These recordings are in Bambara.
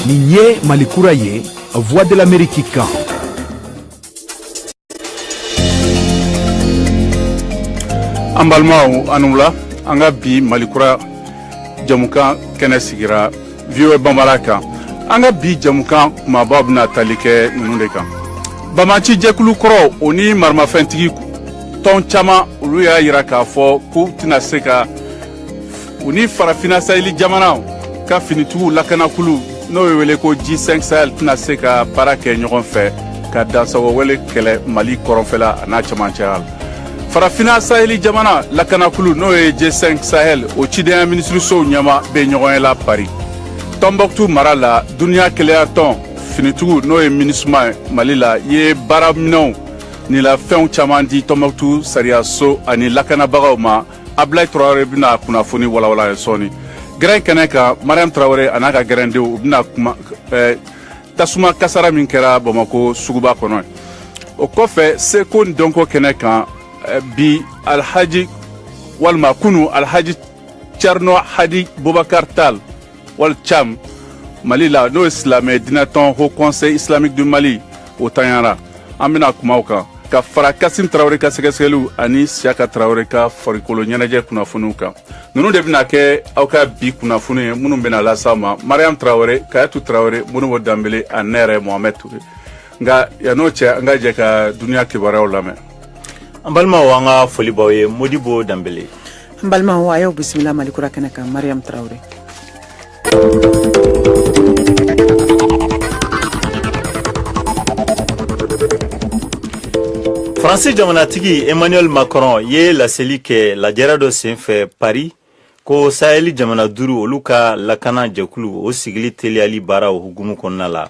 Nin ye Malikura ye, Voix de l'Amérique kan an balimaw aw ni wula an ka bi malikura jamukan kɛnɛ sigira voa bambara kan an ka bi jamukan kumabaw bɛna tali kɛ ninnu de kan banbaanci jɛkulu kɔrɔ o ni maramafɛntigi tɔn caman olu y'a yira k'a fɔ k'u tɛna se ka u ni farafina saheli jamanaw ka finitigiw lakanakulu n'o ye wele ko g5 sahel tɛna se ka baara kɛ ɲɔgɔn fɛ ka dansagowale kɛlɛ mali kɔrɔnfɛla a n'a camancɛya la farafina saheli jamana lakanakulu n'o ye g5 sahel o cidenya minisirisow ɲɛmaa bɛ ɲɔgɔnye la paris tɔnbɔkutu mara la duniya kelenyatɔn finitigiw n'o ye minisuma mali la ye baaraminɛnw ni lafɛnw caman di tɔnbɔkutu sariyaso ani lakanabagaw ma ablayi tarawele bɛna kunnafoni walawala aw ye sɔɔni gɛrɛn kɛnɛ kan mariam tarawele a n'a ka gɛrɛndenw u bɛna kuma eh, tasuma kasara min kɛra bamako suguba kɔnɔ o kɔfɛ seko ni dɔnko kɛnɛ kan eh, bi alhaji walima kunu alhaji Thierno Hadi Boubacar Tall wali Thiam Mali la n'o ye silamɛ diinɛtɔn Haut Conseil islamique du Mali o tanyara an bɛna kuma o kan ka fara Kasim Traoré ka sɛgɛsɛgɛliw ani Siaka Traoré ka farikolo ɲɛnajɛ kunnafoniw kan ninnu de bɛna kɛ aw ka bi kunnafoni ye minnu bɛna lase aw ma Mariam Traoré Kadiatou Traoré Modibo Dambele ani ne yɛrɛ Mohamed Touré nka yann'o cɛ an ka jɛ ka duniya kibaruyaw lamɛn an balimaw an ka foli b'aw ye Modibo Dambele n balima a y'aw bisimila mali kura kɛnɛ kan mariam tarawele faransi jamanatigi emmanuel macron ye laseli kɛ lajɛrɛ dɔ senfɛ paris ko sahɛli jamana duuru olu ka lakana jɛkulu o sigili teliyali baaraw hukumu kɔnɔna la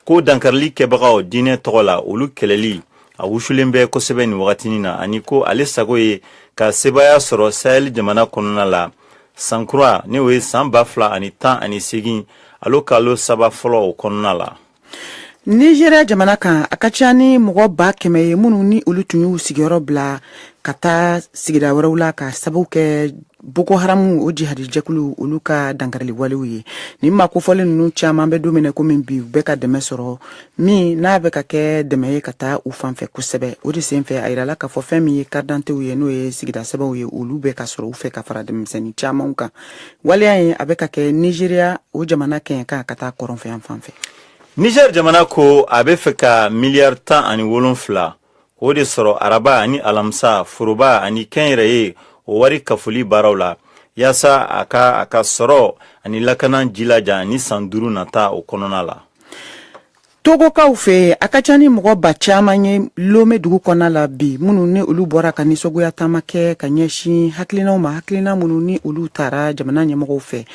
ko dankarili kɛbagaw diinɛ tɔgɔ la olu kɛlɛli a wusulen bɛ kosɛbɛ nin wagatinin na ani ko ale sago ye ka sebaaya sɔrɔ saheli jamana kɔnɔna la sankura ni o ye san ba fila ani tan ani segin alo kalo saba fɔlɔ o kɔnɔna la nizeriya jamana kan a ka ca ni mɔgɔ ba kɛmɛ ye minnu ni olu tun y'u sigiyɔrɔ bila ka taa sigida wɛrɛw la ka sababu kɛ boko haramu o jihadijɛkulu olu ka dankariliwalew ye nin maa kofɔlen ninnu caman bɛ dumuni komi bi u bɛ ka dɛmɛ sɔrɔ min n'a bɛ ka kɛ dɛmɛ ye ka taa u fanfɛ kosɛbɛ o de senfɛ a yirala k'a fɔ fɛn min ye karidantew ye n'o ye sigida sɛbɛnw ye olu bɛ ka sɔrɔ u fɛ ka fara denmisɛnnin caman kan waleya ye a bɛ ka kɛ nizeriya o jamana kɛɲɛka ka taa kɔrɔnfɛyanfan fɛ niger jamana ko a bɛ fɛ ka miliyari tan ani wolonfila o de sɔrɔ araba ani alamisa foroba ani kɛnyɛrɛye o wari kafoli baaraw la yaasa a ka a ka sɔrɔ ani lakana jilaja ni san duuru nata o kɔnɔna la togokaw fɛ a ka ca ni mɔgɔ ba caman ye lome dugu kɔnɔna la bi minnu ni olu bɔra ka nisɔgoya taama kɛ ka ɲɛsin hakilinaw ma hakilina minnu ni olu taara jamana ɲɛmɔgɔw fɛ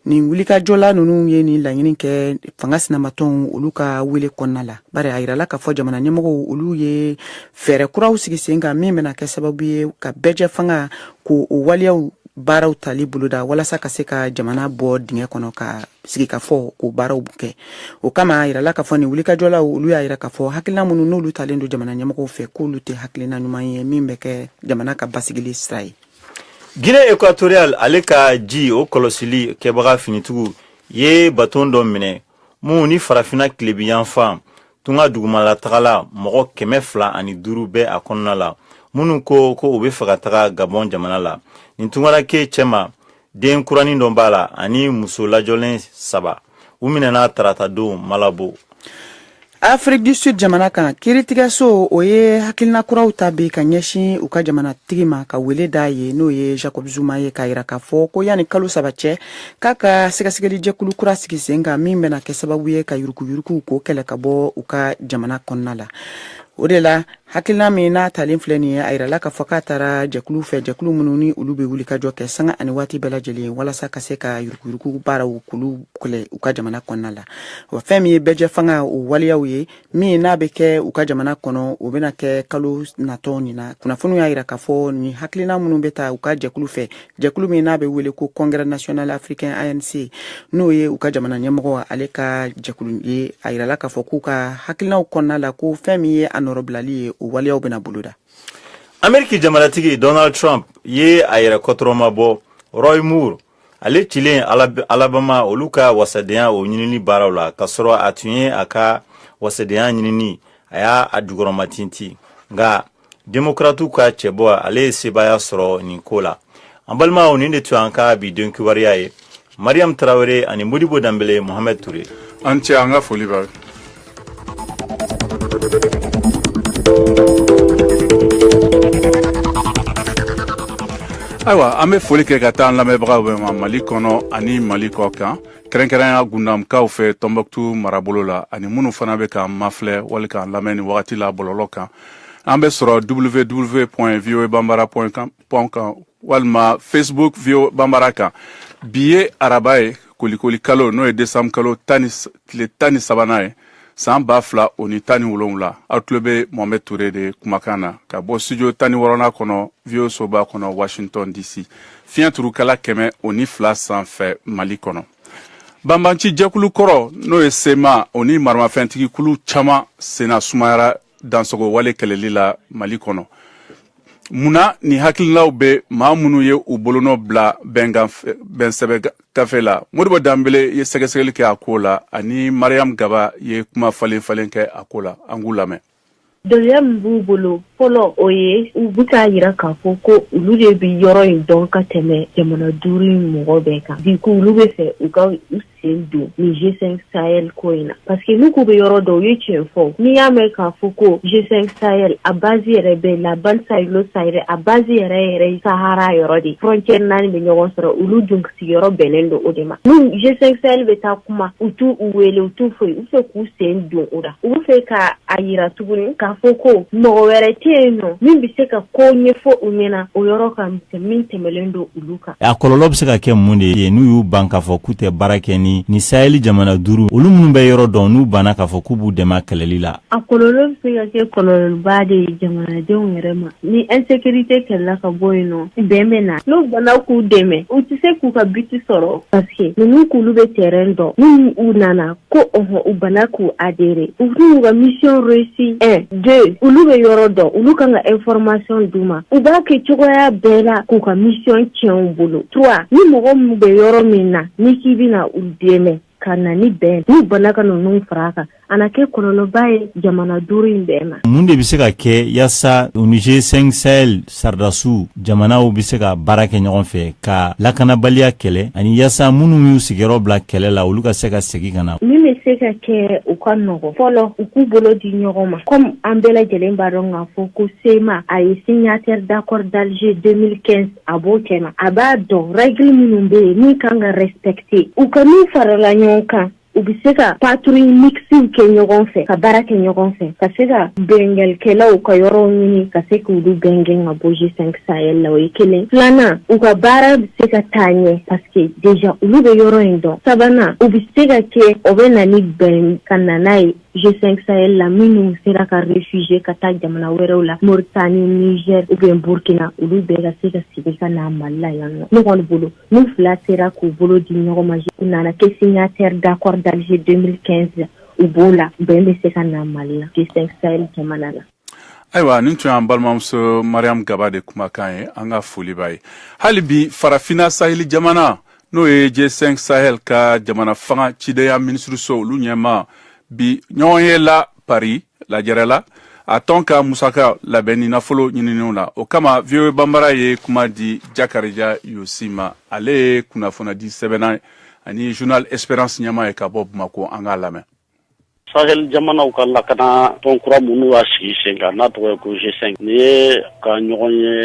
nin wulikajɔla ninnu ye nin laɲini kɛ fanga sinamatɔnw olu ka wele kɔnɔna la bari a yirala k'a fɔ jamana ɲɛmɔgɔw olu ye fɛɛrɛ kuraw sigi sen kan min bɛna kɛ sababu ye ka bɛɛjɛfanga ko o waleyaw baaraw tali boloda walasa ka se ka jamana bɔ dingɛ kɔnɔ ka sigikafɔ ko baaraw kɛ o kama a yirala k'a fɔ nin wulikajɔlaw olu y'a yira k'a fɔ hakilina minnu n'olu talen don jamana ɲɛmɔgɔw fɛ k'olu tɛ hakilina ɲuman ye min bɛ kɛ jamana ka basigili sira ye Guinée équatoriale ale ka ji o kɔlɔsili kɛbaga finitigiw ye baton dɔ minɛ min ni farafinna tilebinyanfan tunga dugumala tagala mɔgɔ kɛmɛ fila ani duuru bɛ a kɔnɔna la minnu ko ko u bɛ fɛ ka taga gabɔn jamana la nin tunkaranke cɛma den kuranin dɔ b'a la ani muso lajɔlen saba u minɛna taratadon malabo afrique du sud jamana kan kiritigɛso o ye hakilina kuraw ta bi ka ɲɛsin u ka jamanatigi ma ka wele d'a ye n'o ye jacob zuma ye k'a yira k'a fɔ ko yanni kalo saba cɛ k'a ka sɛgɛsɛgɛli jɛkulu kura sigi sen kan min bɛna kɛ sababu ye ka yuruguyurugu ko kɛlɛ ka bɔ u ka jamana kɔnɔna la o de la hakilina min n'a talen filɛ nin ye a yirala k'a fɔ k'a tara jɛkulu fɛ jɛkulu minnu ni olu bɛ wuli ka jɔ kɛ sanga ani waati bɛɛ lajɛlen walasa ka se ka yuruguyurugu baaraw k'olu kɛlɛ u ka jamana kɔnɔna la wa fɛn min ye bɛɛjɛfanga o waleyaw ye min n'a bɛ kɛ u ka jamana kɔnɔ o bɛna kɛ kalo natɔ nin na kunnafoniw y'a yira k'a fɔ nin hakilina minnu bɛ ta u ka jɛkulu fɛ jɛkulu min n'a bɛ wele ko congrès national africain anc n'o ye u ka jamana ɲɛmɔgɔ ale ka jɛkulu ye a yirala k'a fɔ k'u ka hakilinaw kɔnɔna la ko fɛn min ye a nɔrɔbilali ye o waleyaw bɛna boloda ameriki jamanatigi donald trump ye a yɛrɛ kɔtɔrɔma bɔ roy moore ale cilen alabama olu ka wasadenya o ɲinini baaraw la k'a sɔrɔ a tun ye a ka wasadenya ɲinini a y'a a jukɔrɔmatintin nka Demokaratiw ka cɛbɔ ale ye sebaaya sɔrɔ nin ko la an balimaw nin de tun an ka bi don kibaruya ye mariyamu tarawele ani modibo danbele mohamɛd ture an cɛ an ka foli b'a ayiwa an bɛ foli kɛ ka taa an lamɛnbagaw bɛɛ ma mali kɔnɔ ani mali kɔ kan kɛrɛnkɛrɛnya gundamukaw fɛ tɔnbɔkutu marabolo la ani minnu fana bɛ k'an mafilɛ wali k'an lamɛn nin wagati la bɔlɔlɔ kan an bɛ sɔrɔ www pɔn voa banbara pɔn kɔm kan walima facebook voa banbara kan bi ye araba ye kolikoli kalo n'o ye desanburu kalo tile tan ni sabanan ye saan ba fila o ni tan ni wolonwula aw tulo bɛ mohamɛd ture de kumakan na ka bɔ studio tan ni wɔɔrɔnan kɔnɔ voa soba kɔnɔ washington dc fiɲɛ turukala kɛmɛ o ni fila sanfɛ mali kɔnɔ banbanci jɛkulu kɔrɔ n'o ye sema o ni maramafɛntigi kulu caman senna sumayara dansogowale kɛlɛli la mali kɔnɔ mun na nin hakililaw bɛ maa minnu ye u bolonɔ bila bɛnsɛbɛ gafe la modibo danbele ye sɛgɛsɛgɛli kɛ a ko la ani mariyamu gaba ye kuma falen falen kɛ a ko la an k'u lamɛn Dɔnniya min b'u bolo fɔlɔ o ye u bɛ k'a yira k'a fɔ ko olu de bɛ yɔrɔ in dɔn ka tɛmɛ jamana duuru in mɔgɔ bɛɛ kan bi ko olu bɛ fɛ u ka u sen don nin G5 Sahel ko in na parce que n'u k'u bɛ yɔrɔ dɔn u ye tiɲɛ fɔ n'i y'a mɛn k'a fɔ ko G5 Sahel a base yɛrɛ bɛ la bande sahélo-saharienne a base yɛrɛ yɛrɛ ye Sahara yɔrɔ de ye frontière naani bɛ ɲɔgɔn sɔrɔ olu dun sigiyɔrɔ bɛnnen don o de ma ni G5 Sahel bɛ taa kuma u t'u u wele u t'u foyi u bɛ fɛ k'u sen don o la u bɛ fɛ ka a yira tuguni k'a fɔ ko mɔgɔ wɛrɛ tɛ yen nɔ min bɛ se ka ko ɲɛfɔ u ɲɛna o yɔrɔ kan min tɛmɛlen don olu kan a kɔlɔlɔ bɛ se ka kɛ mun de ye n'u y'u ban k'a fɔ k'u tɛ baara kɛ ni ni saheli jamana duuru olu minnu bɛ yɔrɔ dɔn n'u banna k'a fɔ k'u b'u dɛmɛ kɛlɛli la A kɔlɔlɔ bɛ se ka kɛ kɔlɔlɔba de ye jamanadenw yɛrɛ ma ni insécurité kɛlɛla ka bɔ yen nɔ bɛn bɛ na n'u banna k'u dɛmɛ u tɛ se k'u ka but sɔrɔ parce que ninnu k'olu bɛ terrain dɔn ni u nana ko ɔhɔ u banna k'u adhérer u t'u ka mission réussi un deux olu bɛ yɔrɔ dɔn olu kan ka information d'u ma u b'a kɛ cogoya bɛɛ la k'u ka mission tiɲɛ u bolo trois ni mɔgɔ min bɛ yɔrɔ min na n'i k'i bɛna u dɛmɛ ka na ni bɛn n'u banna ka ninnu fara a kan a na kɛ kɔlɔlɔba ye jamana duuru in bɛɛ ma mun de bɛ se ka kɛ yaasa o ni G5 Sahel saridasiw jamanaw bɛ se ka baara kɛ ɲɔgɔn fɛ ka lakanabaliya kɛlɛ ani yaasa minnu y'u sigiyɔrɔ bila kɛlɛ la olu ka se ka segi ka na min bɛ se ka kɛ u ka nɔgɔ fɔlɔ u k'u bolo di ɲɔgɔn ma kɔmi an bɛɛ lajɛlen b'a dɔn k'a fɔ ko sema a ye signataire d'accord d'alger 2015 a b'o cɛma a b'a dɔn règle minnu bɛ yen min kan ka respecter u ka n'u farala ɲɔgɔn kan u bɛ se ka patrouille mixtew kɛ ɲɔgɔn fɛ ka baara kɛ ɲɔgɔn fɛ ka se ka binkannikɛlaw ka yɔrɔw ɲini ka se k'olu bɛɛ gɛn ka bɔ G5 Sahel la o ye kelen filanan u ka baara bɛ se ka taa ɲɛ parce que déjà olu bɛ yɔrɔ in dɔn sabanan u bɛ se ka kɛ o bɛ na ni bɛn ka na n'a ye G5 Sahel la minnu sera ka réfugier ka taa jamana wɛrɛw la Mauritanie Niger ou bien Burkina olu bɛɛ ka se ka segi ka na Mali la yan nɔ ne kɔni bolo n'u fila sera k'u bolo di ɲɔgɔn ma u nana kɛ signataire d'accord d'Alger 2015 u b'o la bɛn bɛ se ka na Mali la G5 Sahel jamana la ayiwa nin tun y'an balimamuso mariam gaba de kumakan ye an ka foli b'a ye hali bi farafina saheli jamana n'o ye g5 sahel ka jamana fanga cideya minisiriso olu ɲɛma bi ɲɔgɔn ye la paris lajɛrɛ la a tɔn ka musaka labɛn ni nafolo ɲininenw na o kama voa banbara ye kuma di jakarija yosi ma ale ye kunnafonidi sɛbɛnna ani journal esperance ɲɛma ye ka bɔ bamako an k'a lamɛn Sahel jamanaw ka lakana tɔn kura minnu y'a sigi sen kan n'a tɔgɔ ye ko G5 nin ye ka ɲɔgɔn ye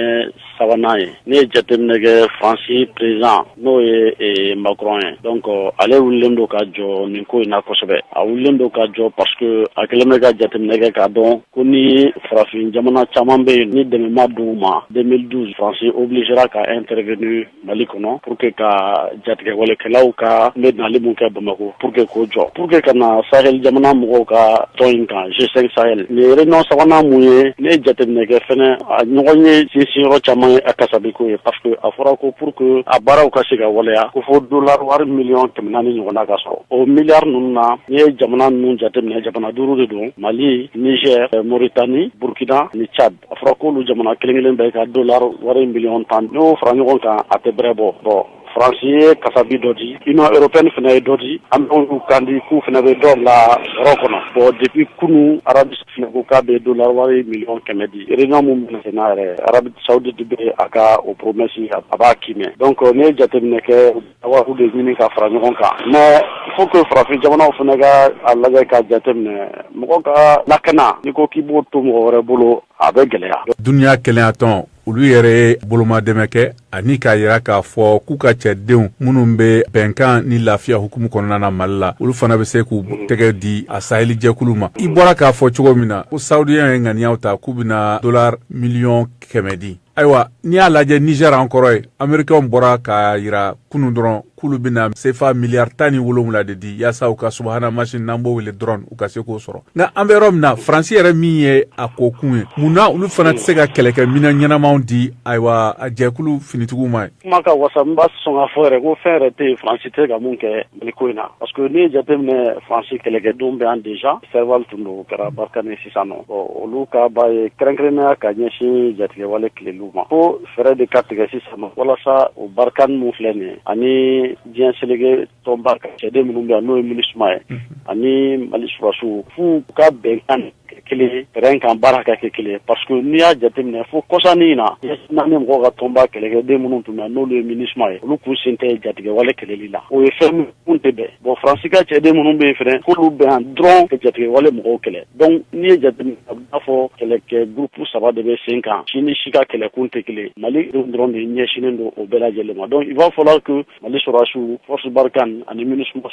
sabanan ye n'i ye jateminɛ kɛ Faransi président n'o ye eh, Macron ye donc ale wulilen don ka jɔ nin ko in na kosɛbɛ a wulilen don ka jɔ parce que a kɛlen bɛ ka jateminɛ kɛ k'a dɔn ko ni farafin jamana caman bɛ yen ni dɛmɛ ma d'u ma 2012 Faransi obligera ka intervenir Mali kɔnɔ pour que ka jatigɛwalekɛlaw ka ne nali min kɛ Bamakɔ pour que k'o jɔ pour que ka na sahel jamana mɔgɔw ka tɔn in kan G5 Sahel nin réunion sabanan mun ye n'i ye jateminɛ kɛ fɛnɛ a ɲɔgɔnye sinsinyɔrɔ caman ye a kasabi ko ye parce que a fɔra ko pour que a baaraw ka se ka waleya ko fo dollar wari miliyɔn kɛmɛ naani ɲɔgɔnna ka sɔrɔ o miliyari ninnu na n'i ye jamana ninnu jateminɛ jamana duuru de don Mali Niger Mauritanie Burkina ni Tchad a fɔra k'olu jamana kelen kelen bɛɛ ka dollar wari miliyɔn tan n'o fara ɲɔgɔn kan a tɛ bɛrɛ bɔ bon faransi ye kasabi dɔ di union européenne fana ye dɔ di an b'u kan di k'u fana bɛ dɔ bila yɔrɔ kɔnɔ bon depuis kunun arabie ko k'a bɛ dollar wari miliyɔn kɛmɛ di réunion mun bɛna se n'a yɛrɛ arabie saoudite bɛ a ka o promesse a b'a kiimɛ donc n'i ye jateminɛ kɛ Wari de ɲini ka fara ɲɔgɔn kan mais il faut que farafin jamanaw fana ka a lajɛ ka jateminɛ mɔgɔ ka lakana n'i ko k'i b'o to mɔgɔ wɛrɛ bolo a bɛ gɛlɛya duniya kelenyatɔn olu yɛrɛ ye bolomadɛmɛ kɛ ani k'a yira k'a fɔ k'u ka cɛdenw minnu bɛ bɛnkan ni lafiya hukumu kɔnɔna na mali la olu fana bɛ se k'u tɛgɛ di a saheli jɛkulu ma i bɔra k'a fɔ cogo min na ko saudiya ye ŋaniya ta k'u bɛna dollar miliyɔn kɛmɛ di ayiwa n'i y'a lajɛ niger an kɔrɔ ye amerikɛnw bɔra k'a yira kunu dɔrɔn k'olu bɛna sefa miliyari tan ni wolonwula de di yaasa u ka subahana masini n'an b'o wele drone u ka se k'o sɔrɔ nka an bɛ yɔrɔ min na faransi yɛrɛ min ye a ko kun ye mun na olu fana tɛ se ka kɛlɛkɛminan ɲɛnamaw di ayiwa a jɛkulu finitigiw ma ye kuma ka wasa n b'a sɔn k'a fɔ yɛrɛ ko fɛn yɛrɛ tɛ yen faransi tɛ ka mun kɛ mali ko in na parce que n'i ye jateminɛ faransi kɛlɛkɛdenw bɛ yan déjà serval tun don o kɛra barkhane sisan nɔ olu ka ba ye kɛrɛnkɛrɛnnenya ka ɲɛsin jatigɛwale kɛlɛli ma fo fɛɛrɛ de ka tigɛ sisan nɔ walasa o barkhane mun filɛ nin ye ani diɲɛ seleke tɔnba ka cɛden minnu bɛ yan n'o ye minisuma ye ani mali surasiw f'u ka bɛn ka kɛ kelen terrain kan baara ka kɛ kelen parce que n'i y'a jateminɛ fo kɔsannin in na n'an ni mɔgɔw ka tɔnba kɛlɛkɛden minnu tun bɛ yan n'olu ye minisuma ye olu k'u sen tɛ jatigɛwale kɛlɛli la o ye fɛn kun tɛ bɛn bon faransi ka cɛden minnu bɛ yen fana k'olu bɛ yan dɔrɔn ka jatigɛwale mɔgɔw kɛlɛ donc n'i ye jateminɛ a bɛ n'a fɔ kɛlɛkɛ gurupu saba de bɛ sen kan si ni si ka kɛlɛkun tɛ kelen mali dɔrɔn de ɲɛsinnen don o bɛɛ lajɛlen ma donc il va falloir que mali sɔrɔdasiw force barkhane ani minusma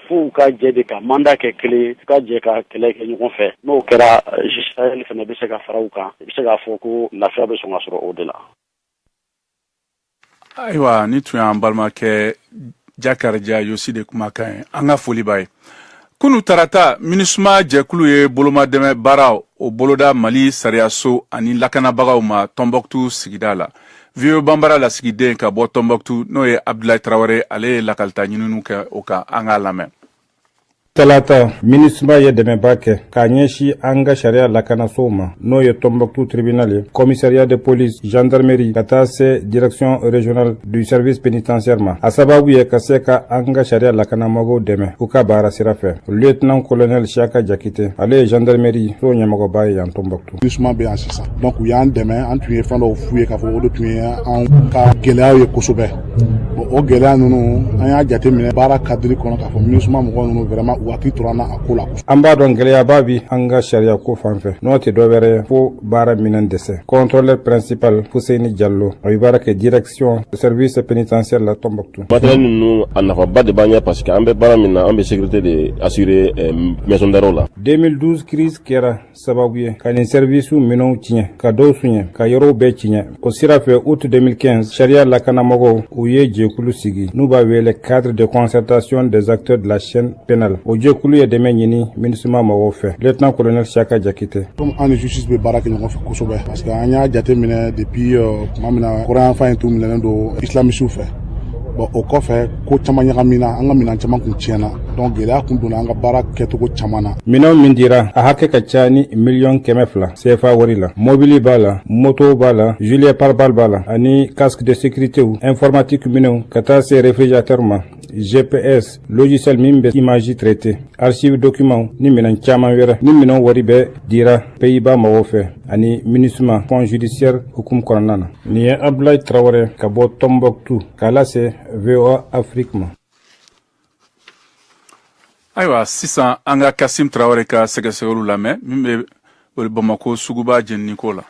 f'u ka jɛ de ka manda kɛ kelen ye u ka jɛ ka kɛlɛ kɛ ɲɔgɔn fɛ n'o kɛra G5 sahel fana bɛ se ka fara u kan i bɛ se k'a fɔ ko lafiya bɛ sɔn ka sɔrɔ o de la ayiwa nin tun y'an balimakɛ jakarija yosi de kumakan ye an ka foli b'a ye kunu tarata minisuma jɛkulu ye bolomadɛmɛ baaraw boloda mali sariyaso ani lakanabagaw ma tɔnbɔkutu sigida la voa banbara lasigiden ka bɔ tɔnbɔkutu n'o ye abdulayi tarawele ale ye lakalita ɲininiw kɛ o kan an k'a lamɛn Talata, MINUSMA ye dɛmɛba kɛ k'a ɲɛsin an ka sariya lakanasow ma n'o ye Tombouctou tribunal ye, commissariat de police, gendarmerie ka taa se direction régionale du service pénitentiaire ma. A sababu ye ka se ka an ka sariya lakanamɔgɔw dɛmɛ u ka baara sira fɛ. Lieutenant colonel Siaka Jakite, ale ye gendarmerie so ɲɛmɔgɔba ye yan Tombouctou. MINUSMA bɛ yan sisan donc u y'an dɛmɛ an tun ye fɛn dɔw f'u ye k'a fɔ o de tun ye anw ka gɛlɛyaw ye kosɛbɛ bon o gɛlɛya ninnu an y'a jateminɛ baara cadre kɔnɔ k'a fɔ MINUSMA mɔgɔ ninnu vraiment u hakili tora an na a ko la an b'a dɔn gɛlɛyaba bi an ka sariya ko fan fɛ n'o tɛ dɔ wɛrɛ ye fo baara minɛn dɛsɛ contrôleur principal Fuseni Jalo a bɛ baara kɛ direction service pénitentiaire la Tombouctou matériel ninnu a nafaba de b'an ɲɛ parce que an bɛ baara min na an bɛ sécurité de assurer euh, maison d'arrêt la 2012 crise kɛra sababu ye ka nin sɛriwisiw minɛnw tiɲɛ ka dɔw suɲɛ ka yɔrɔw bɛɛ tiɲɛ o sira fɛ août 2015 sariya lakanamɔgɔw u ye jɛkulu sigi n'u b'a wele cadre de concertation des acteurs de la chaîne pénale o jɛkulu ye dɛmɛ ɲini minusma mɔgɔw fɛ lieutenant colonel siaka jakite comme an ni justice bɛ baara kɛ ɲɔgɔn fɛ kosɛbɛ parce que an y'a jateminɛ depuis euh, tuma min na kɔrɔnyanfan in tun minɛnen don islamisiw fɛ bon o kɔfɛ ko caman ɲagamina an ka minɛn caman kun tiɲɛna donc gɛlɛya kun donna an ka baara kɛcogo caman na minɛnw min dira a hakɛ ka ca ni miliyɔn kɛmɛ fila cfa wari la mobili b'a la moto b'a la gilet pare-balles b'a la ani casque de sécuritew informatique minɛnw ka taa se réfrigérateur ma GPS, logiciel min bɛ image traité, archive document ni minɛn caman wɛrɛ nin minɛnw wari bɛɛ dira Pays-Bas mɔgɔw fɛ ani MINUSMA, Fonds judiciaire hukumu kɔnɔna na. Nin ye Abdoulaye Traoré ka bɔ Tombouctou k'a lase voa afiriki ma ayiwa sisan an ka kasim tarawele ka sɛgɛsɛgɛliw lamɛn min bɛ bamakɔ suguba jeniniko la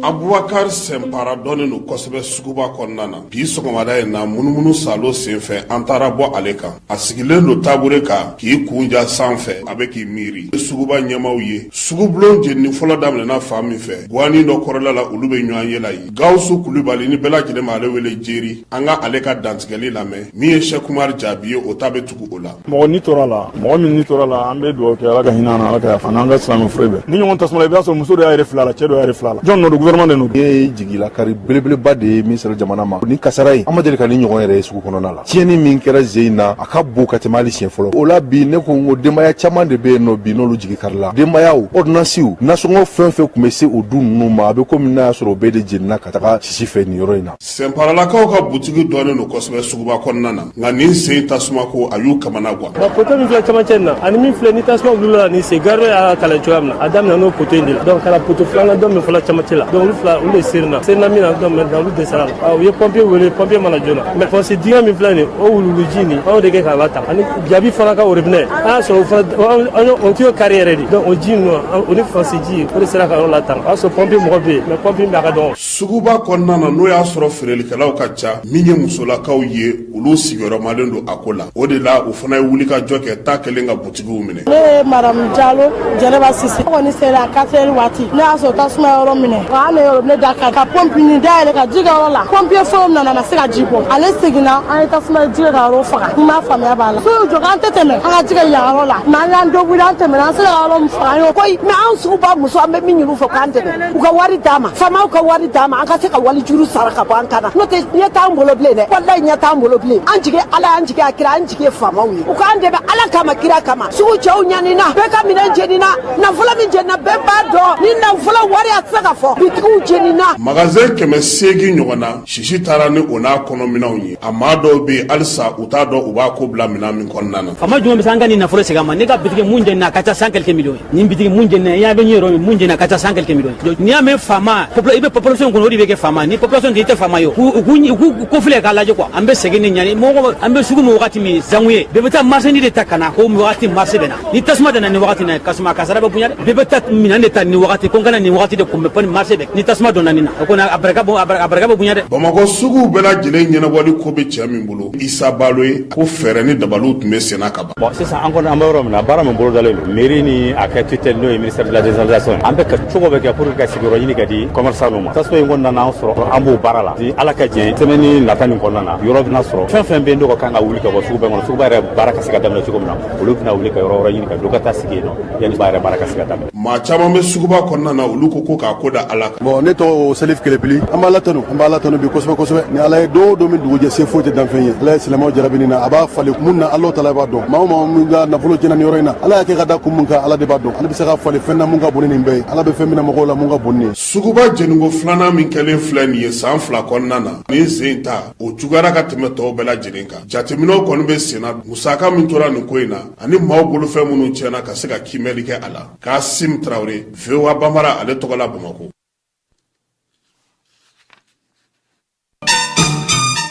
abubakar sɛnpara dɔnnen don kosɛbɛ suguba kɔnɔna na bi sɔgɔmada in na munumunu saalo senfɛ an taara bɔ ale kan a sigilen don tabure kan k'i kun ja san fɛ a bɛ k'i miiri suguba ɲɛmaw ye sugubulon jenini fɔlɔ daminɛna fan min fɛ guwanin dɔ kɔrɔla la olu bɛ ɲɔgɔnye la yen gawusu kulubali ni bɛɛ lajɛlen ma ale wele jeri an ka ale ka dantigɛli lamɛn min ye sɛku umari jaabi ye o ta bɛ tugu o la mɔgɔ ni tora la mɔgɔ min ni tora la an bɛ dugawu kɛ ala ka hinɛ na ala ka yafa n'an ka silamɛ fure bɛɛ nin ɲɔgɔn tasuma i b'a sɔrɔ muso dɔ y'a yɛrɛ fili a la cɛ dɔ y'a yɛrɛ fili a la jɔn nɔ don gouvernement de nɔ don ye jigilakari belebeleba de ye min sera jamana ma ni kasara ye an ma deli ka nin ɲɔgɔn yɛrɛ ye sugu kɔnɔna la tiɲɛni min kɛra sen in na a ka bon ka tɛmɛ hali siɲɛ fɔlɔ o la bi ne ko n ko denbaya caman de bɛ yen nɔ bi n'olu jigi karila denbayaw ɔrdinansiw nasɔngɔ fɛn o fɛn tun bɛ se o du ninnu ma a bɛ komi n'a y'a sɔrɔ o bɛɛ de jeninna ka taga sisi fɛ nin yɔrɔ in na sɛnparalakaw ka butigi dɔnnen don kosɛbɛ suguba kɔnɔna na nka nin sen tasumako a y'u kamana Bon poto min filɛ camancɛ nin na ani min filɛ ni tasuma wulila la nin sen gardo y'a kalan cogoya min na a daminɛna o poto in de la donc kana poto filanan dɔ min filɛ camancɛ la donc olu fila olu de serina serina min na donc maintenant olu dɛsɛra la ah, u ye pompier wele pompier ma na joona mais fɔsi dingɛ min filɛ nin o wuluwuluji nin an y'o de kɛ k'a latanga ani jabi fana ka orobinɛ an y'a sɔrɔ o fana o tiyo kari yɛrɛ de donc o ji ninnu o ni fɔsi ji o de sera ka yɔrɔ latanga o y'a sɔrɔ pompier mɔgɔ bɛ yen mais pompier baara ka dɔgɔn suguba kɔnɔna na n'o y'a sɔrɔ feerelikɛlaw ka ca min ye musolakaw ye olu sigiyɔrɔmalen don a ko la o de la u fana ye wuli ka jɔ kɛ ta kɛlen ka butigiw minɛ ne ye madamu jalo jɛnɛba sise kɔni sera a katɛri waati ne y'a sɔrɔ tasuma ye yɔrɔ minɛ wa ne yɛrɛ ne tagara ka pɔmpinin da yɛlɛ ka ji kɛ yɔrɔ la pɔmpiye fɔlɔ min nana ma se ka ji bɔ ale seginna an ye tasuma ji kɛ ka yɔrɔ faga n b'a faamuya b'a la sow jɔ k'an tɛ tɛmɛ an ka ji kɛ yan yɔrɔ la mɛ an y'an dɔgɔya an tɛmɛna an sera ka yɔrɔ min faga an y'o ko mɛ an suguba muso an bɛ min ɲini u fɛ k'an dɛmɛ u ka wari d'an ma faamaw ka wari d'an ma an ka se ka wali juru sara ka bɔ an kan na n'o tɛ ɲɛ t'an bolo bilen dɛ walayi ɲɛ t'an bolo bilen an jigi ala ye an jigi a kira an jigi ye faamaw ye u k'an dɛmɛ ala kama kira kama sugu cɛw ɲanina bɛɛ ka minɛn jenina nafolo min jenina bɛɛ b'a dɔn nin nafolo wari a tɛ se ka fɔ bitigiw jenina magasin kɛmɛ seegin ɲɔgɔn na Sisi taara ni o n'a kɔnɔ minɛnw ye a maa dɔw bɛ yen halisa u t'a dɔn u b'a ko bila minɛn min kɔnɔna na. Faama jumɛn bɛ se an ka nin nafolo segin an ma ne ka bitigi mun jenina a ka ca cent quelques millions ye nin bitigi mun jenina i y'a bɛ ɲɛ yɔrɔ min mun jenina a ka ca cent quelques millions ye n'i y'a mɛn faama i bɛ population kunna o de bɛ kɛ faama ni population tɛ i tɛ faama ye o u k'u u k'u kofilɛ k'a lajɛ quoi an bɛ sɛgɛn ni ɲani mɔgɔ an bɛ sugu min wagati min sango ye bɛɛ bɛ taa marchandise de ta ka na ko wagati marché bɛ na. ni tasuma donna nin wagati na kasuma kasara bɛ bonya dɛ bɛɛ bɛ taa minɛn de ta nin wagati ko n kana nin wagati de kunbɛn fɔ ni marché bɛ ni tasuma donna nin na o kɔni a barika bɔ a barika bɛ bonya dɛ bamakɔ suguw bɛɛ lajɛlen ɲɛnabɔli ko bɛ cɛ min bolo isa balo ye ko fɛɛrɛ ni dabaliw tun bɛ senna ka ban bon sisan an kɔni an bɛ yɔrɔ min na baara min bolodalen don mairie ni a ka tutelle n'o ye ministère de la décentralisation ye an bɛ ka cogo bɛɛ kɛ pour que ka sigiyɔrɔ ɲini ka di commerçant ninnu ma tasuma in kɔni nana an sɔrɔ an b'o baara la ni ala ka jɛn semaine nata nin kɔnɔna na yɔrɔ bɛna sɔrɔ fɛn fɛn bɛ yen n'o ka kan ka wuli ka bɔ suguba kɔnɔ suguba yɛrɛ baara ka se ka daminɛ cogo min na olu bɛna wuli ka yɔrɔ wɛrɛ ɲini ka don ka taa sigi yen nɔ yanni ba yɛrɛ baara ka se ka daminɛ maa caman bɛ suguba kɔnɔna na olu ko ko k'a ko da ala kan bon ne tɔgɔ salif kelepili an b'ala tanu an b'ala tanu bi kosɛbɛ kosɛbɛ ni ala ye don o don min dugujɛ se foyi tɛ danfɛn ye ala ye silamɛw jarabi nin na a b'a falen mun na alahu taala b'a dɔn maa o maa min ka nafolo jenina nin yɔrɔ in na ala y'a kɛ ka da kun mun kan ala de b'a dɔn ale bɛ se k'a falen fɛn na mun ka bon ni nin bɛɛ ye ala bɛ fɛn mina mɔgɔw la mun ka bon ni nin ye suguba jeniko filanan min kɛlen filɛ nin ye san fila kɔnɔna na nin sen ta o juguyara ka tɛmɛ tɔw bɛɛ lajɛlen kan Jateminɛw kɔni bɛ sen na musaka min tora nin ko in na ani maaw bolofɛn minnu tiɲɛna ka se ka kiimɛli kɛ a la, Kasim Traore, VOA Banbara ale tɔgɔ la Bamakɔ.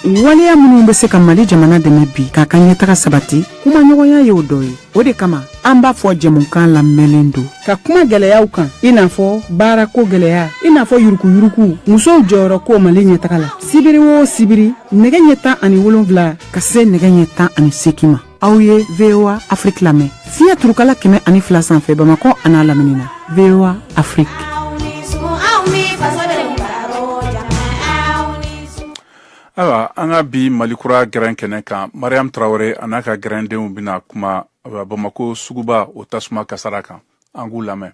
Waleya minnu bɛ se ka Mali jamana dɛmɛ bi k'a ka ɲɛtaga sabati, kumaɲɔgɔnya y'o dɔ ye. o de kama an b'a fɔ jɛmukan labɛnlen don ka kuma gɛlɛyaw kan i n'a fɔ baarako gɛlɛya i n'a fɔ yurukuyuruku musow jɔyɔrɔ ko mali ɲɛtaga la sibiri o sibiri nɛgɛ ɲɛ tan ani wolonfila ka se nɛgɛ ɲɛ tan ani seegin ma aw ye voa afiriki lamɛn fiɲɛ turukala kɛmɛ ani fila sanfɛ bamakɔ an'a lamini na voa afiriki ayiwa an ka bi mali kura gɛrɛn kɛnɛ kan mariam tarawele a n'a ka gɛrɛndenw bɛna kuma bamako suguba o tasuma kasara kan an k'u lamɛn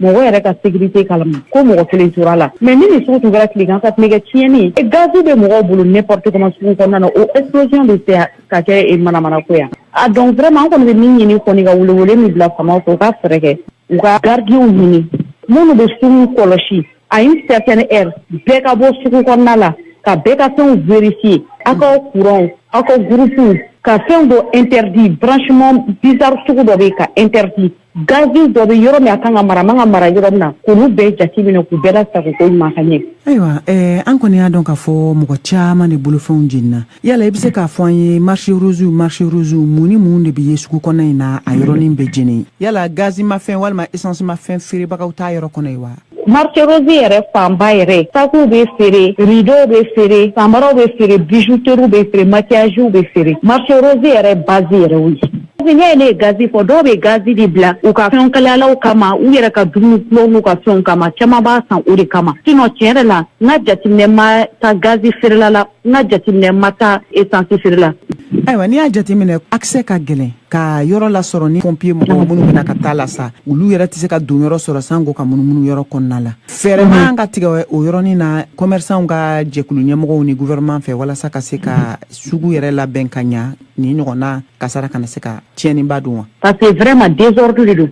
mɔgɔ yɛrɛ ka sécurité kalama ko mɔgɔ kelen tora a la mais ni nin sugu tun kɛra tilegan fɛ tun bɛ kɛ tiɲɛni ye gazi bɛ mɔgɔw bolo n'importe comment sugu kɔnɔna na o explosion bɛ se ka kɛ e manamanako yan a donc vraiment an kɔni bɛ min ɲini kɔni ka welewele min bila faamaw fɛ u ka fɛɛrɛ kɛ u ka gardiens ɲini minnu bɛ sugu kɔlɔsi À une certaine heure bɛɛ ka bɔ sugu kɔnɔna la ka bɛɛ ka fɛnw vérifier aw ka kuran aw ka groupe ka fɛn dɔ interdit branchement bizarre sugu dɔ bɛ ka interdit gazi dɔ bɛ yɔrɔ min a kan ka mara man ka mara yɔrɔ min na k'olu bɛɛ jateminɛ k'u bɛɛ lasagon koɲuman ka ɲɛ ayiwa an kɔni y'a dɔn k'a fɔ mɔgɔ caman de bolofɛnw jenina yala i bɛ se k'a fɔ an ye marché rose marché rose mun ni mun de bɛ ye sugu kɔnɔ in na a yɔrɔnin bɛɛ jeni yala gazi mafɛn walima essence mafɛn feerebagaw t'a yɔrɔ kɔnɔ ye wa marché rose yɛrɛ fanba yɛrɛ sakiw bɛ feere rideau bɛ feere samaraw bɛ feere bijouterie bɛ feere maquillage bɛ feere marché rose yɛrɛ base yɛrɛ o ye n'i ye ne ye gazi fɔ dɔw bɛ gazi de bila u ka fɛnw kalayalaw kama u yɛrɛ ka dumuni kulɔw n'u ka fɛnw kama caman b'a san o de kama sinon tiɲɛ yɛrɛ la n ka jateminɛ ma taa gazi feerela la N ka jateminɛ ma taa esansi feere la. Ayiwa n'i y'a jateminɛ accès ka gɛlɛn ka yɔrɔ lasɔrɔ ni pompier mɔgɔ minnu bɛna ka ta lasa olu yɛrɛ tɛ se ka donyɔrɔ sɔrɔ sanko ka munumunu yɔrɔ kɔnɔna la fɛɛrɛ man ka tigɛ o yɔrɔnin na commerçants ka jɛkulu ɲɛmɔgɔw ni gouvernement fɛ walasa ka se ka sugu yɛrɛ labɛn ka ɲɛ nin ɲɔgɔnna kasara kana se ka tiɲɛniba don wa parce que vraiment désordre de don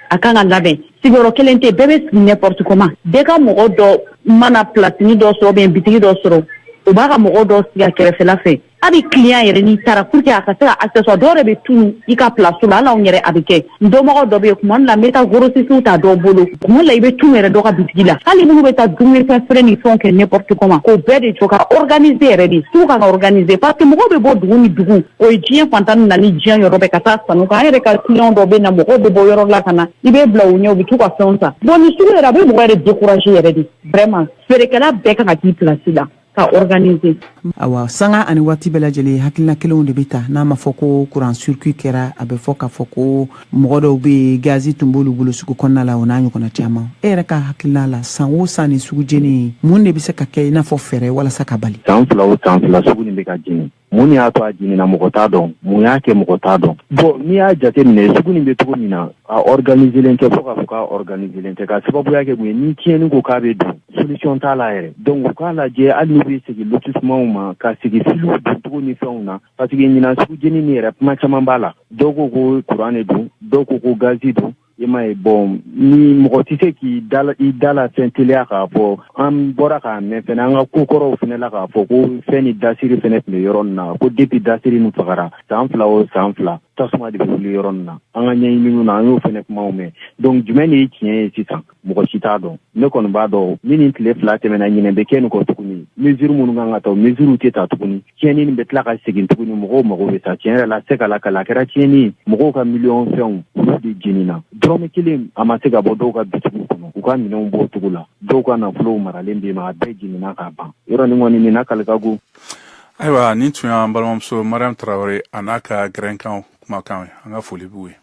a ka kan ka labɛn sigiyɔrɔ kelen tɛ bɛɛ bɛ sigi n'importe comment bɛɛ ka mɔgɔ dɔ mana placenin dɔ sɔrɔ bien bitigi dɔ sɔrɔ u b'a ka mɔgɔ dɔ sigi a kɛrɛfɛla fɛ hali client yɛrɛ n'i taara pour que a ka se ka accessoire dɔw yɛrɛ bɛ tunu i ka place la hali anw yɛrɛ a bɛ kɛ n dɔnbagaw dɔ bɛ yen tuma dɔ la n bɛ taa grossistes ta dɔw bolo tuma dɔ la i bɛ tunu yɛrɛ dɔ ka bitigi la hali minnu bɛ taa dumunifɛn feere ni fɛnw kɛ n'importe comment k'o bɛɛ de jɔ ka organiser yɛrɛ de sugu kan ka organiser parce que mɔgɔw bɛ bɔ dugu ni dugu o ye diɲɛ fan tan ni naani diɲɛ yɔrɔ bɛɛ ka taa sanni kɛ an yɛrɛ ka client dɔw bɛ na mɔgɔw bɛ bɔ yɔrɔ la ka na i bɛ bila u ɲɛ u bɛ t'u ka fɛnw san bon nin sugu yɛrɛ a bɛ mɔgɔ yɛrɛ décourager yɛrɛ de vraiment feerekɛla bɛɛ kan ka k'i place la ka organiser. Awa sanga ani waati bɛɛ lajɛlen hakilina kelenw de bɛ ta n'a ma fɔ ko courant circuit kɛra a bɛ fɔ k'a fɔ ko mɔgɔ dɔw bɛ yen gazi tun b'olu bolo sugu kɔnɔna la o n'a ɲɔgɔnna caman e yɛrɛ ka hakilina la san o san nin sugu jeni mun de bɛ se ka kɛ i n'a fɔ fɛɛrɛ walasa k'a bali. San fila o san fila sugu nin bɛ ka jeni mun y'a to a jenina mɔgɔ t'a dɔn mun y'a kɛ mɔgɔ t'a dɔn bon n'i y'a jate minɛ sugu nin bɛ cogo min na a ɔriganiselen tɛ fo k'a fɔ k'a ɔriganiselen tɛ ka sababuya kɛ mun ye ni tiɲɛni ko k'a bɛ don solution t'a la yɛrɛ donc u k'a lajɛ hali n'u bɛ segin lotisimanw ma ka segin filiw doncogo ni fɛnw na parce que ɲinan sugu jeni ni yɛrɛ kuma caman b'a la dɔw ko ko kuran de don dɔw ko ko gazi don i m'a ye bon ni mɔgɔ tɛ se k'i da la fɛn teliya k'a fɔ an bɔra k'a mɛn fɛnɛ an ka kokɔrɔw fɛnɛ la k'a fɔ ko fɛn ni dasiri fɛnɛ tun bɛ yɔrɔ nin na ko depuis dasiri nin fagara san fila o san fila tasuma de bɛ wuli yɔrɔ nin na an ka ɲɛɲininiw na an y'o fɛnɛ kumaw mɛn donc jumɛn de ye tiɲɛ ye sisan mɔgɔ si t'a dɔn ne kɔni b'a dɔn ni nin tile fila tɛmɛna ɲinɛ bɛ kɛ nin kɔ tuguni mesure minnu kan ka ta o mesure tɛ ta tuguni tiɲɛni nin bɛ tila ka segin tuguni mɔgɔw mago bɛ sa tiɲɛ yɛrɛ la se ka lakali a kɛra tiɲɛni mɔgɔw ka miliyɔn fɛnw olu de jenina dɔrɔmɛ kelen a ma se ka bɔ dɔw ka bitigiw kɔnɔ u ka minɛnw b'o cogo la dɔw ka nafolow maralen bɛ ma a bɛɛ jenina k'a ban yɔrɔ nin kɔni nin lakali ka go ayiwa nin tun y'an balimamuso mariam tarawele a n'a ka gɛrɛnkan kumakan an ka foli b'u ye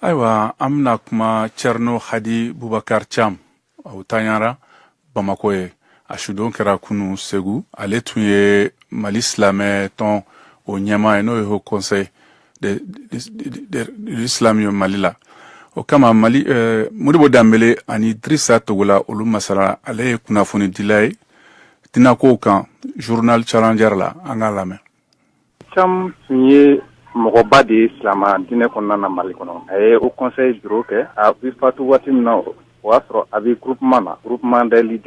ayiwa an bɛna kuma cerno hadi bubakar cam o tanyara bamako ye a sudon kɛra kunu segu ale tun ye mali silamɛ tɔn o ɲɛmaa ye n'o ye haut conseil de, de, de, de islam ye mali la o kama mali eh, modibo danbele ani drisa togola olu masala ale ye kunnafonidila ye tɛna ko kan zurununa cayara la an ka lamɛn tun ye mɔgɔba de ye silamɛ diinɛ kɔnɔna na mali kɔnɔ a ye o kɔnɛ juru kɛ a bi fatu waati min na o y'a sɔrɔ a bɛ gkman na gkman deli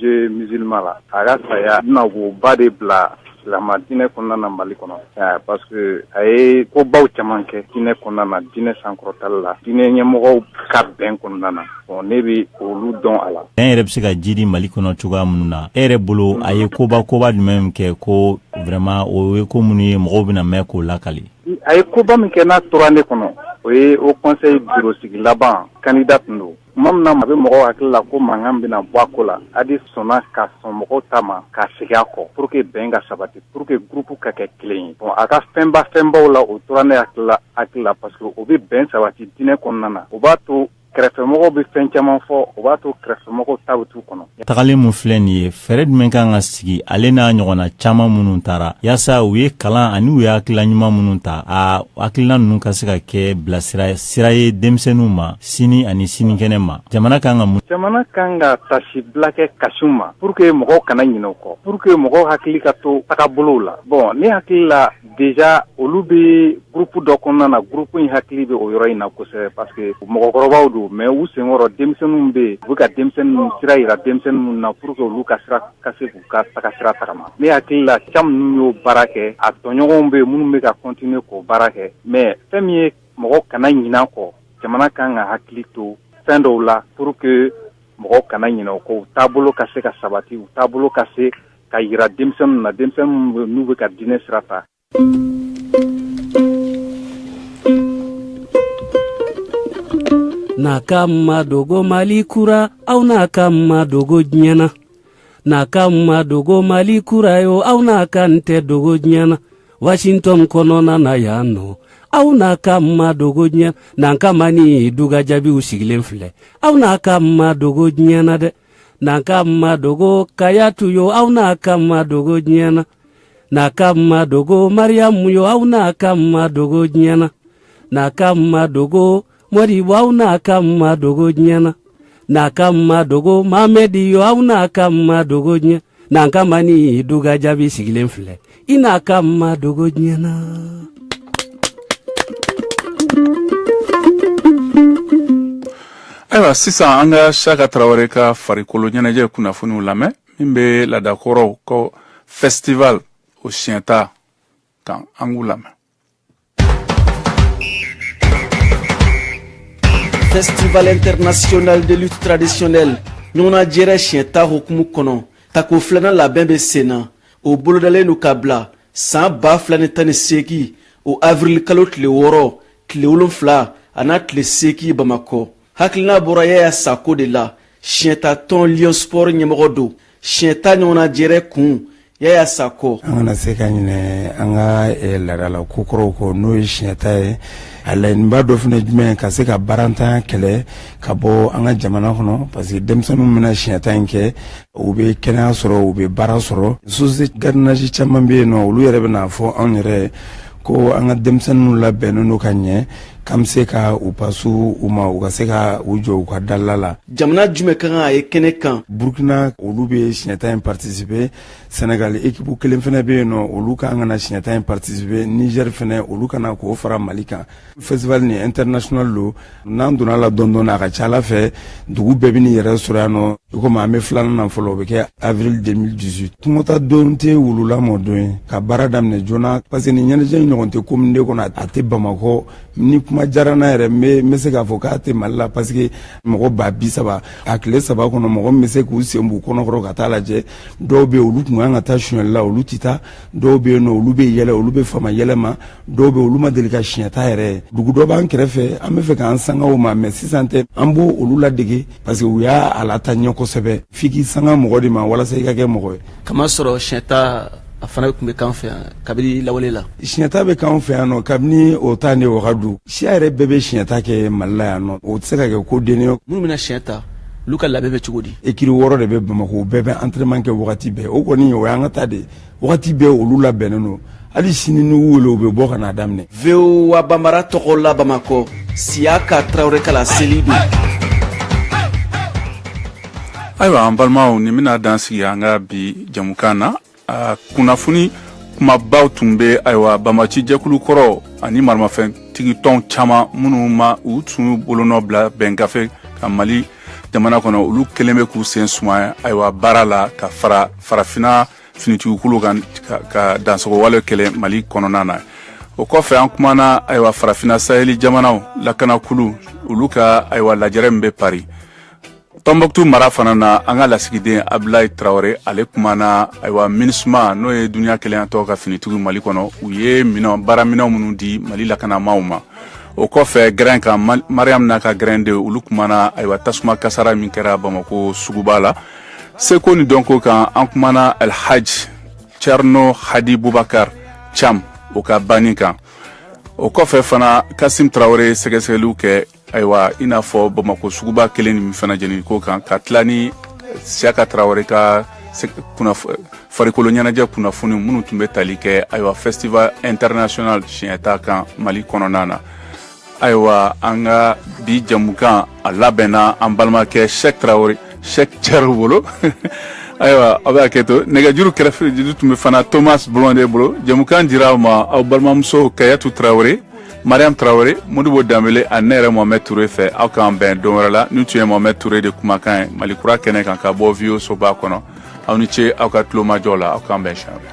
ze mizlima la a y'a saya na ba de bila Silama diinɛ kɔnɔna na Mali kɔnɔ ɛɛ parce que a ye ko baw caman kɛ diinɛ kɔnɔna na diinɛ sankɔrɔtali la diinɛ ɲɛmɔgɔw ka bɛn kɔnɔna na bon ne bɛ olu dɔn a la. Bɛn yɛrɛ bɛ se ka jiidi Mali kɔnɔ cogoya minnu na e yɛrɛ bolo a ye koba koba jumɛn kɛ ko vraiment o ye ko minnu ye mɔgɔw bɛna mɛn k'o lakali. A ye koba min kɛ n'a tora ne kɔnɔ o ye Haut Conseil bureau sigi laban candidat tun don. Tuma min na a bɛ mɔgɔw hakili la ko mankan bɛna bɔ a ko la, Hadi sɔnna ka sɔn mɔgɔw ta ma ka segin a kɔ pour que bɛn ka sabati, pour que groupe ka kɛ kelen ye. Bon a ka fɛnba fɛnbaw la, o tora ne hakili la hakili la parce que o bɛ bɛn sabati diinɛ kɔnɔna na, o b'a to kɛrɛfɛmɔgɔw bɛ fɛn caman fɔ, o b'a to kɛrɛfɛmɔgɔw ta bɛ t'u kɔnɔ. tagalen min filɛ nin ye fɛɛrɛ jumɛn kan ka sigi ale n'a ɲɔgɔnna caaman minnu taara yaasa u ye kalan ani u ye hakilila ɲuman minnu ta a hakilina ninnu ka se ka kɛ bilasira sira ye denmisɛnninw ma sini ani sinikɛnɛ ma jamana kan ka mun jamana kan ka taasibila kɛ ka sin u ma pour que mɔgɔw kana ɲinɛ u kɔ pour que mɔgɔw hakili ka to tagabolow la bon ne hakili la Déjà olu bɛ groupe dɔ kɔnɔna na groupe in hakili bɛ o yɔrɔ in na kosɛbɛ parce que mɔgɔkɔrɔbaw don mais u senkɔrɔ denmisɛnninw bɛ yen u bɛ ka denmisɛnninw sira yira denmisɛnnin minnu na pour que olu ka sira ka se k'u ka tagasira tagama ne hakili la Thiam ninnu y'o baara kɛ a tɔɲɔgɔnw bɛ yen minnu bɛ ka continuer k'o baara kɛ mais fɛn min ye mɔgɔ kana ɲinɛ kɔ jamana kan ka hakili to fɛn dɔw la pour que mɔgɔ kana ɲinɛ u kɔ u taabolo ka se ka sabati u taabolo ka se ka yira denmisɛnnin na denmisɛnnin n'u bɛ ka diinɛ sira ta nakan ma dogo mali kura aw nakan ma dogo diɲɛ na nakan ma dogo mali kura yo aw nakan tɛ dogo diɲɛ na washington kɔnɔna na yan nɔ aw nakan ma dogo diɲɛ na nankama ni dugajaabiw sigilen filɛ aw nakan ma dogo diɲɛ na dɛ nakan ma dogo kajatu yo aw nakan ma dogo diɲɛ na nakan ma dogo mariyamu yo aw nakan ma dogo diɲɛ na nakan ma dogo mɔdibo aw nakan ma dogo diɲɛ na nakan ma dogo mamɛdi yo aw nakan ma dogo diɲɛ na nankama ni dugajaabi sigilen filɛ i nakan ma dogo diɲɛ na ayiwa sisan an ka siaka tarawele ka farikolo ɲɛnajɛ kunnafoniw lamɛn min bɛ laadakɔrɔw ko festival o siɲɛta kan an k'u lamɛn Festival international de lutte traditionnelle ɲɔgɔnna jɛrɛ siɲɛta hukumu kɔnɔ tako filanan labɛn bɛ sen na o bolodalen don ka bila san ba fila ni tan ni seegin o avirilikalo tile wɔɔrɔ tile wolonfila an'a tile seegin bamakɔ hakilina bɔra yaya sako de la siɲɛta tɔn Lion Sport ɲɛmɔgɔ don siɲɛta ɲɔgɔnna jɛrɛ kun yaya sako an kana se ka ɲinɛ an ka eh, laadala kokɔrɔw kɔ n'o ye siɲɛta ye a laɲiniba dɔ fana jumɛn ka se ka baarantanya kɛlɛ ka bɔ an ka jamana kɔnɔ parce que denmisɛn minnu bɛna siɲɛta in kɛ u bɛ kɛnɛya sɔrɔ u bɛ baara sɔrɔ société gardiennage caman bɛ yen nɔ olu yɛrɛ bɛn'a fɔ anw yɛrɛ ko an ka denmisɛnninw labɛnnen don ka ɲɛ k'an bɛ se ka u pase u ma u ka se ka u jɔ u ka dala la jamana jumɛn ka kan ka ye kɛnɛ kan burkina olu bɛ siɲɛta in partisipe senegal ekipu kelen fana bɛ yen nɔ olu ka kan ka na siɲɛta in partisipe niger fana olu ka na k'o fara mali kan festival nin international don n'an donna la dɔɔni dɔɔni a ka ca a la fɛ dugu bɛɛ bɛn'i yɛrɛ sɔrɔ yan nɔ i komi an bɛ filanan na fɔlɔ o bɛ kɛ avril 2018 kungotaa don tɛ wulu lamɔ don ye ka baara daminɛ joona parce que nin ɲɛnajɛ in ɲɔgɔn tɛ commune deux kɔnɔ a tɛ bamakɔ ni kuma diyara n na yɛrɛ n bɛ se k'a fɔ k'a tɛ mali la parce que mɔgɔ ba bi saba a tile saba kɔnɔ mɔgɔ min bɛ se k'u sen b'u kɔnɔkɔrɔ ka taa lajɛ dɔw bɛ yen olu tun kan ka taa sonyali la olu tɛ taa dɔw bɛ yen nɔ olu bɛ yɛlɛ olu bɛ fama yɛlɛ ma dɔw be olu ma deli ka siɲɛta yɛrɛ dugu dɔ b'an kɛrɛfɛ an be fɛ k'an sanga o ma mais sisan tɛ an b'olu ladege parce que u y'a a lataa ɲɛ kosɛbɛ f'i k'i sanga mɔgɔ de ma walasa i ka kɛ mɔgɔ ye k'a masɔrɔ siɲɛta a fana tun bɛ k'an fɛ yan kabini lawale la siɲɛta bɛ k'an fɛ yan nɔ kabini o ta ni wagadu siya yɛrɛ bɛɛ bɛ siɲɛta kɛ mali la yan nɔ o tɛ se ka kɛ ko denni ye minnu bɛna siɲɛ ta olu ka labɛn bɛ cogo di ekiri wɔɔrɔ de bɛ bamako bɛɛ bɛ antrenman kɛ wagati bɛɛ o kɔni o y'an ka ta de wagati bɛɛ olu labɛnnen don hali sini n'u wele u bɛ bɔ ka n'a daminɛ voa banbara tɔgɔ la bamakɔ siyaka tarawele ka laseli don ayiwa an balimaw nin bɛna dan sigi an ka bi jɛmukan na a kunnafoni kumabaw tun bɛ ayiwa banbaanci jɛkulu kɔrɔ ani maramafɛntigi tɔn caman minnu ma u tun bolonɔ bila bɛn gafe kan mali jamana kɔnɔ olu kɛlen bɛ k'u sen suma ayiwa baara la ka fara farafina finitigikulu kan ka dansagonwale kɛlɛ mali kɔnɔna na o kɔfɛ an kumana ayiwa farafina saheli jamanaw lakanakulu olu ka ayiwa lajɛrɛ min bɛ pari tɔnbɔkutu mara fana na an ka lasigiden abudulayi tarawele ale kumana ayiwa minisuma n'o ye duniɲa kelenyatɔn ka finitigiw mali kɔnɔ u ye minɛn baara minɛn minnu di mali lakanabaw ma o kɔfɛ gɛrɛn kan mariyamu n'a ka gɛrɛndenw olu kumana ayiwa tasuma kasara min kɛra bamako suguba la seko ni dɔnko kan an kumana alhaji carno hadi bubakar cam o ka banni kan o kɔfɛ fana kasim tarawele sɛgɛsɛgɛliw kɛ ayiwa i n'a fɔ bamako suguba kelen nin fana jeni ko kan ka tila ni siyaka tarawele ka farikolo ɲɛnajɛ kunnafoni minnu tun bɛ tali kɛ ayiwa festival international siɲɛta kan mali kɔnɔna na ayiwa an ka bi jamukan a labɛnna an balimakɛ sɛk tarawele sɛk cɛro bolo ayiwa aw bɛ hakɛ to nɛgɛjuru kɛrɛfɛ juru tun bɛ fana thomas blonde bolo jamukan dira aw ma aw balimamuso kayatu tarawele mariam tarawele modibo danbele ani ne yɛrɛ mohamɛd ture fɛ aw k'an bɛn don wɛrɛ la ni tun ye mohamɛd ture de kumakan ye mali kura kɛnɛ kan ka bɔ voa soba kɔnɔ aw ni ce aw ka tulomajɔ la aw k'an bɛn siɲɛ wɛrɛ